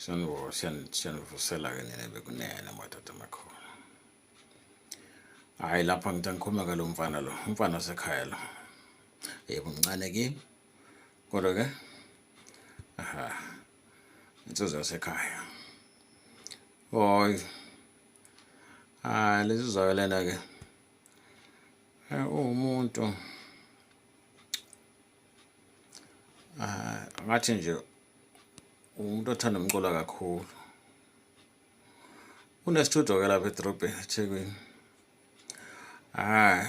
siyanivusela-ke nina bekunene madoda amakhulu hhayi lapha ngithi angikhuluma ke lo mfana lo umfana wasekhaya lo yebo mncane kimi kodwa ke aha insizwa yasekhaya oy hayi lezi zayo lena ke uwumuntu Ah, ngathi nje umuntu othanda umculo kakhulu unesitudio ke lapha edorobheni ethekwini hayi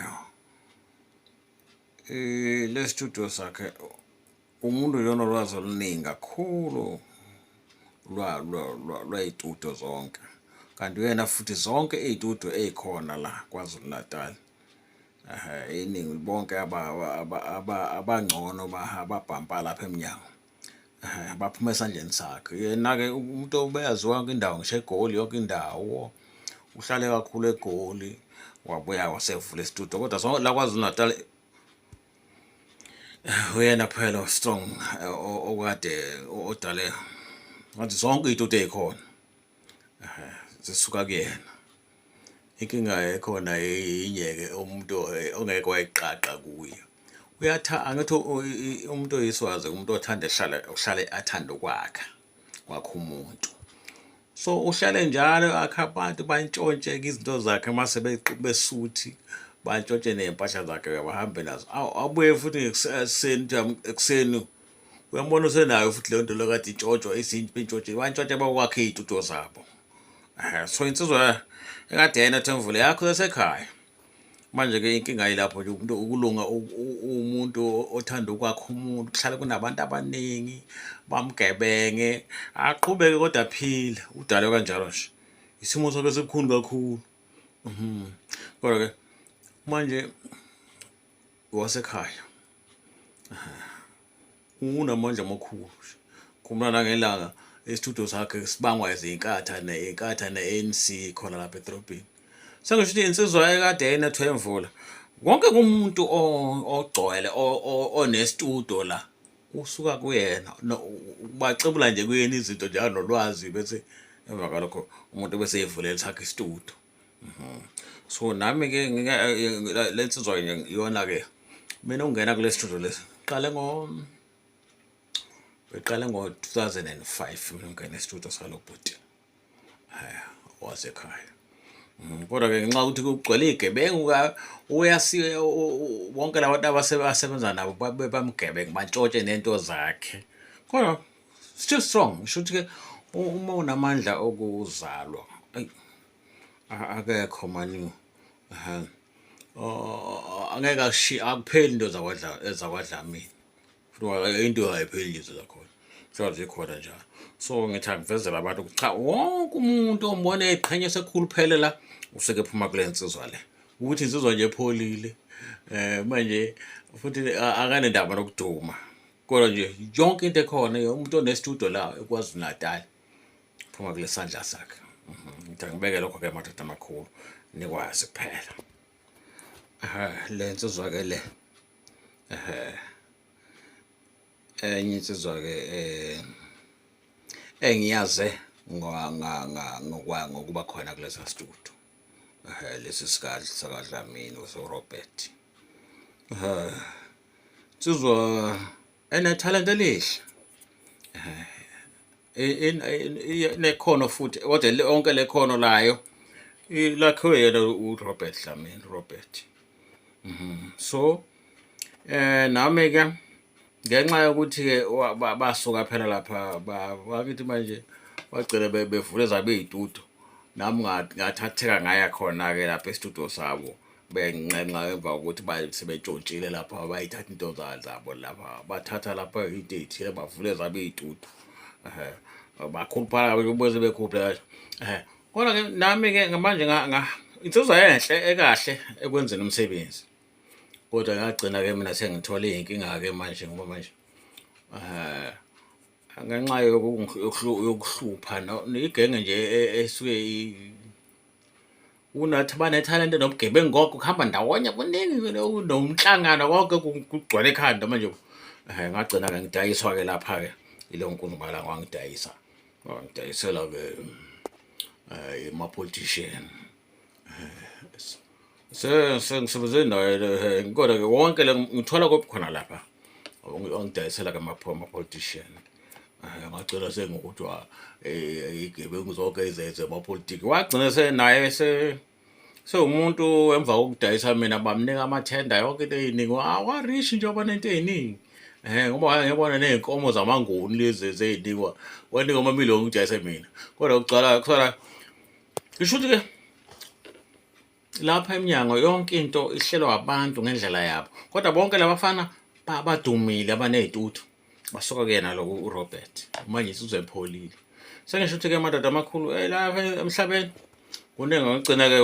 eh, le studio sakhe umuntu uyona olwazi oluningi kakhulu lwayitudio zonke kanti uyena futhi zonke iy'tudio ey'khona la kwazulu natali iningi bonke abangcono ababhampa lapha emnyango baphuma esandleni sakhe yena-ke umuntu obeyaziwa yonke indawo ngisho egoli yonke indawo uhlale kakhulu egoli wabuya wasevula isitudio kodwa so la kwazulu-natal uyena kuphela strong okade odale ngathi zonke iy'tudio ey'khona zisuka kuyena inkinga ekhona yinye-ke umuntu eh, ongeke wayiqaqa kuye uyatha angithi umuntu oyiswazi umuntu othanda ehlala uhlale athanda ukwakha kwakho umuntu so uhlale njalo akha abantu bantshontshe izinto zakhe mase besuthi bantshontshe ney'mpahla zakhe bahambe nazo abuye futhi ekuseni ekuseni uyambona usenayo futhi leyo nto lokade intshotshwa izinto intshotsheni bantshontshe bakwakhe iy'tuto zabo um so insizwa ekade yena themvule yakho yasekhaya manje-ke inkinga yilapho nje umuntu ukulunga umuntu othanda ukwakha umuntu kuhlale kunabantu abaningi bamgebenge aqhubeke kodwa aphile udalwe kanjalo nje isimo sobe sibukhulu kakhulu mhm. kodwa-ke manje wasekhaya unamandla amakhulu khumula nangelanga isithudo sakhe sibangwa izinkatha neinkatha ne-anc khona lapha edorobheni sengisho ukuthi insizwa ekade enethwe imvula wonke kumuntu ogcwele onestudo la usuka kuyena bacebula nje kuyena izinto njalo nolwazi bese emva kwalokho umuntu bese evulela sakhe isitudo Mhm. so nami ke lensizwa iyona ke mina ungena kule studio lesi qale ngo beqale ngo-2005 mina ungena estudio salo bhuti haya wasekhaya mhm, kodwa ke ngenxa ukuthi kugcwele igebengu uyasi wonke labantu abasebenza nabo bamgebengu bantshotshe nento zakhe kodwa still strong ngisho ukuthi ke uma unamandla okuzalwa akekho mani angeke ashi akupheli into zakwadla ezakwadlamini futhi into ayipheli nje zakhona sure zikhona njalo so ngithi angivezela abantu ukuthi cha wonke umuntu ombona eqhenya sekhulu phele la useke phuma kule nsizwa le ukuthi insizwa nje epholile um manje futhi akanendaba nokuduma kodwa nje yonke into ekhona umuntu onestudio la ekwazi uNatal phuma kule sandla sakhe mhm, ngicela ngibeke lokho ke madoda amakhulu nikwazi kuphela le nsizwa ke le enye insizwa ke eh, engiyaze ngokuba khona kulesa studio lesi sikadli sakadlamini usorobert Sizwa ene talent elihle. Eh, nekhono futhi kodwa lonke lekhono layo lakhiwe yena uRobert Dlamini Robert. Mhm. So eh nami ke ngenxa yokuthi ke basuka phela lapha bakithi manje bagcine bevule zabe izitudio nami ngathatheka ngaya khona ke lapha estudio sabo benxenxa emva kokuthi sebetshontshile lapha bayithatha into zabo lapha bathatha lapha into ey'thile bavule zabo iy'tutu um bakhuluphala beze bekhuphe um kodwa-ke nami-ke ngamanje insizwa enhle ekahle ekwenzeni umsebenzi kodwa ngagcina-ke mina sengithole iy'nkinga-ke manje ngoba manje um ngenxa yokuhlupha igenge nje e, e, esuke unathi banethalente nobugebengu konke kuhamba ndawonye kuningi nomhlangano konke kugcwele ekhanda manje um ngagcina-ke ngidayiswa-ke lapha-ke ilo nkunubala ngwangidayisa ngidayisela-ke um eh, ama-politician eh, sengisebenze naye eh, kodwa-ke wonke le ngithola kophi khona lapha ongidayisela-ke ama-politician amacela sengokuthiwa eh, igebengu zonke izenze amapolitiki wagcina senaye se sewumuntu emva kokudayisa mina bamnika amathenda yonke into eyiningi awarish nje oba nento eyiningi Eh ngoba wayengebona nezinkomo zamanguni lezi zezinikwa. Wanika uma million ngijayise mina. Kodwa ucala kusala ngisho ukuthi ke lapha eminyango yonke into ihlelwa abantu ngendlela yabo. Kodwa bonke labafana badumile abanezituthu. basuka kuyena lokho urobert manje usuzepholile sengisho ukuthi-ke amadoda amakhulu eh, la emhlabeni kuningi ngagcina-ke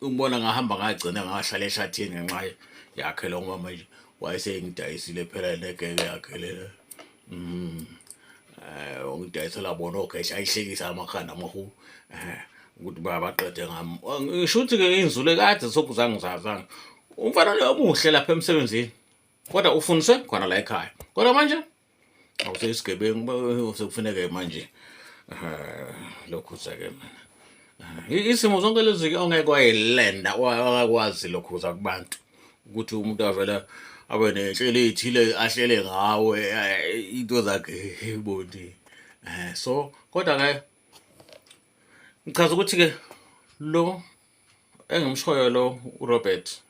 umbona ngahamba ngagcina ngahlala ehlathini ngenxa yakhe lo ngoba manje wayesengidayisile phela negeke yakhe lena um mm. eh ungidayisela bona ogesha ayihlekisa amakhanda amahulu eh ukuthi babaqede ngami ngisho ukuthi ke inzule kade sokuzange zazana umfana omuhle lapha emsebenzini kodwa ufundiswe khona la ekhaya kodwa manje awuseyisigebengu sekufuneke manje lokhu sake mina isimo zonke lezi-ke ongeke wayelenda ongakwazi lokhuza kubantu ukuthi umuntu avela abe nenhlelo ethile ahlele ngawe eh, into zakhe bondi eh, so kodwa ke ngichaza ukuthi ke lo engimshoyo lo uRobert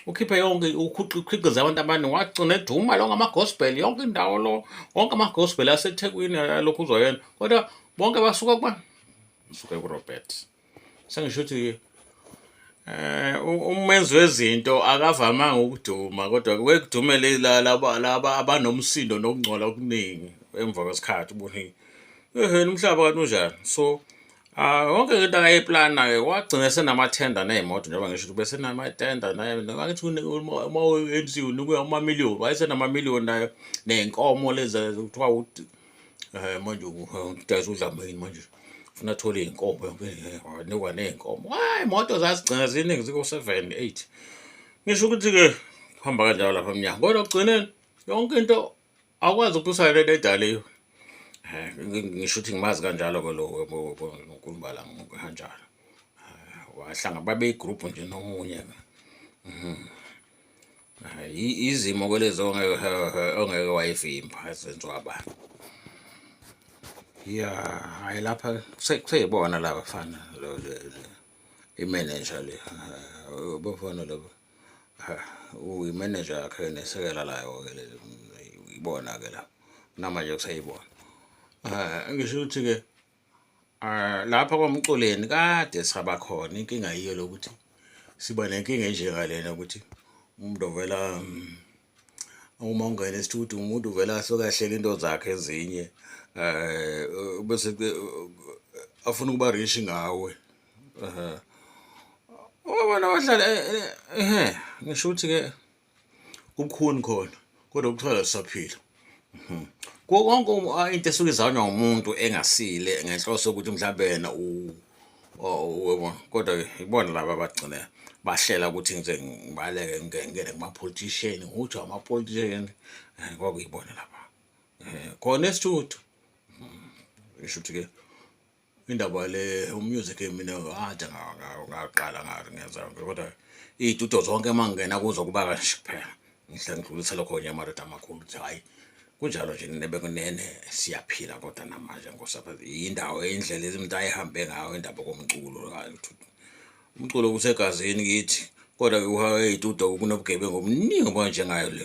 ukhiphe yonke ukhiqiza abantu abani wagcina eduma lo ngamagospel yonke indawo lo wonke amagospel asethekwini alokhu uzoyena kodwa bonke basuka kuba suke kurobert sengisho ukuthi eh umenzi wezinto akavamanga ukuduma kodwa kwekudumele laba laba abanomsindo nokungcola okuningi emva kwesikhathi ubone ehe umhlaba kanti unjani so Ah wonke into akayiplana ke wagcina senamathenda nezimoto njengoba ngisho ukuthi bese namathenda naye ngakithi uma uyenziwe unikwe ama million wayesenama million nayo nezinkomo lezi kuthiwa um manje udayisa udlamini manje funa athole iy'nkomo wanikwa ney'nkomo hayi imoto zazigcina ziningi ziko-seven eight ngisho ukuthi-ke kuhamba kanjalo lapha mnyango kodwa kugcineni yonke into akwazi ukuthi usalele edaliwe um ngisho ukuthi ngimazi kanjalo-ke lo nkulumbala kanjalo wahlanga babeyigruphu nje nomunye-ke mhm. izimo kwelezi ongeke wayivimba zenziwa abantu ya hayi lapha kuseyibona la bafana imeneja le bafana laba uyimeneja yakhe nesekela layo ke le ibona ke la namanje kuseyibona ngisho ukuthi-ke Ah, lapha kwamculeni kade sihaba khona inkinga yiyo lokuthi siba nenkinga enjengalena ukuthi umuntu ovela mm, uma ungena esithuthi umuntu uvela asuke ahleke into zakhe ezinye um bese afuna ukuba rishi ngawe um ubona wahlala ehe ngisho ukuthi-ke kukhuni khona kodwa ukuthola sisaphila mhm. kuwo konke into esuke izanywa umuntu engasile ngenhloso yokuthi mhlawumbe yena kodwa ibona laba abagcine bahlela ukuthi ngize ngibaleke ngingene kumapolitisheni nguthiwa amapolitisheni eh, kwakuyibona laba eh, khona esithuthu mhm. isho ukuthi-ke indaba le umusic mina ngathi ngaqala ngathi ngenza yonke kodwa iy'tudio zonke uma ngingena kuzo kuba kanje kuphela ngihle ngidlulise lokho nye amadoda amakhulu ukuthi hhayi kunjalo nje nebekunene siyaphila kodwa namanje ngosapha yindawo indlela ezimuntu ayihambe ngayo indaba komculo umculo kusegazini kithi kodwa ke uhaweyitudo kunobugebengu obuningi obunjengayo le